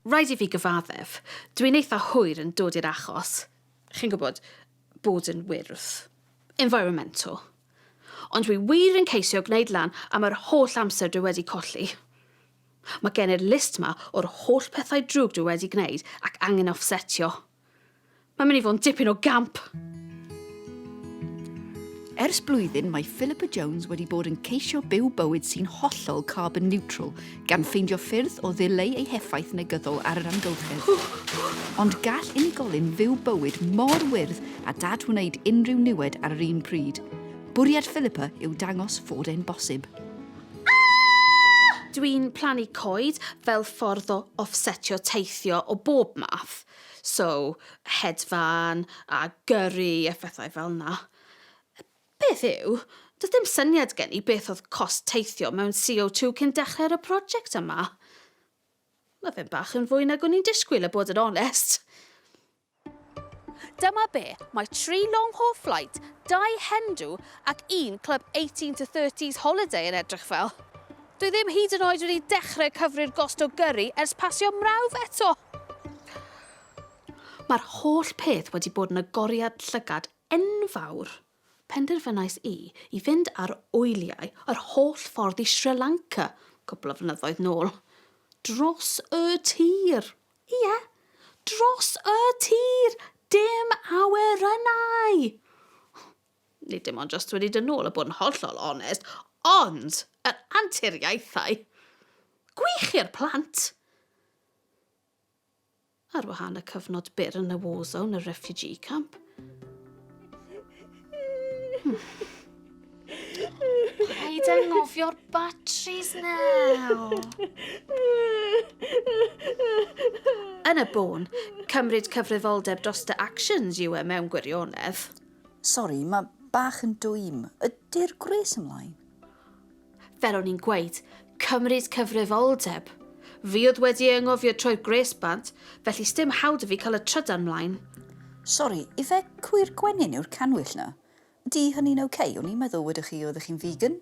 Rhaid i fi gyfaddef, dw i'n eitha hwyr yn dod i'r achos, chi'n gwybod, bod yn wyrdd. Environmental. Ond dwi wir yn ceisio gwneud lan am yr holl amser dwi wedi colli. Mae gen i'r list 'ma o'r holl pethau drwg dwi wedi gwneud ac angen offsetio. Mae'n mynd i fod yn dipyn o gamp! Ers blwyddyn mae Philippa Jones wedi bod yn ceisio byw bywyd sy'n hollol carbon neutral, gan ffeindio ffyrdd o ddileu ei heffaith negyddol ar yr amgylchedd. Ond gall unigolyn fyw bywyd mor wyrdd a dad wneud unrhyw niwed ar yr un pryd. Bwriad Philippa yw dangos fod e'n bosib. Dwi'n plannu coed fel ffordd o offsetio teithio o bob math. So, hedfan a gyrru a phethau fel 'na. Peth yw, doedd dim syniad gen i beth oedd cost teithio mewn CO2 cyn dechrau ar y project yma. Mae fe'n bach yn fwy nag o'n i'n disgwyl, a bod yn onest. Dyma be, mae tri long-haul flight, dau hen-do ac un club 18 to 30s holiday yn edrych fel. Dwi ddim hyd yn oed wedi dechrau cyfri'r gost o gyrri ers pasio mrawf eto! Mae'r holl peth wedi bod yn agoriad llygad enfawr. Penderfynais i i fynd ar wyliau yr holl ffordd i Sri Lanka, cwpl o flynyddoedd nôl. Dros y tir! Ie, dros y tir! Dim awyr yna i! nid dim ond jyst wedi dod nôl a bod yn hollol onest, ond yr anturiaethau gwych i'r plant! Ar wahân y cyfnod byr yn y war zone, y refugee camp. Rhaid anghofio'r batteries now. Yn y bôn, cymryd cyfrifoldeb dros dy actions yw e mewn gwirionedd. Sori, mae bach yn dwym. Ydy'r gwres ymlaen? Fel o'n i'n gweud, cymryd cyfrifoldeb. Fi oedd wedi ei anghofio troi'r gwres bant, felly sdim hawl 'da fi cael y trydan 'mlaen. Sori, ife cwyr gwenyn yw'r canwyll 'na? Ydy hynny'n ok? O'n i'n meddwl wedoch chi oeddech chi'n vegan.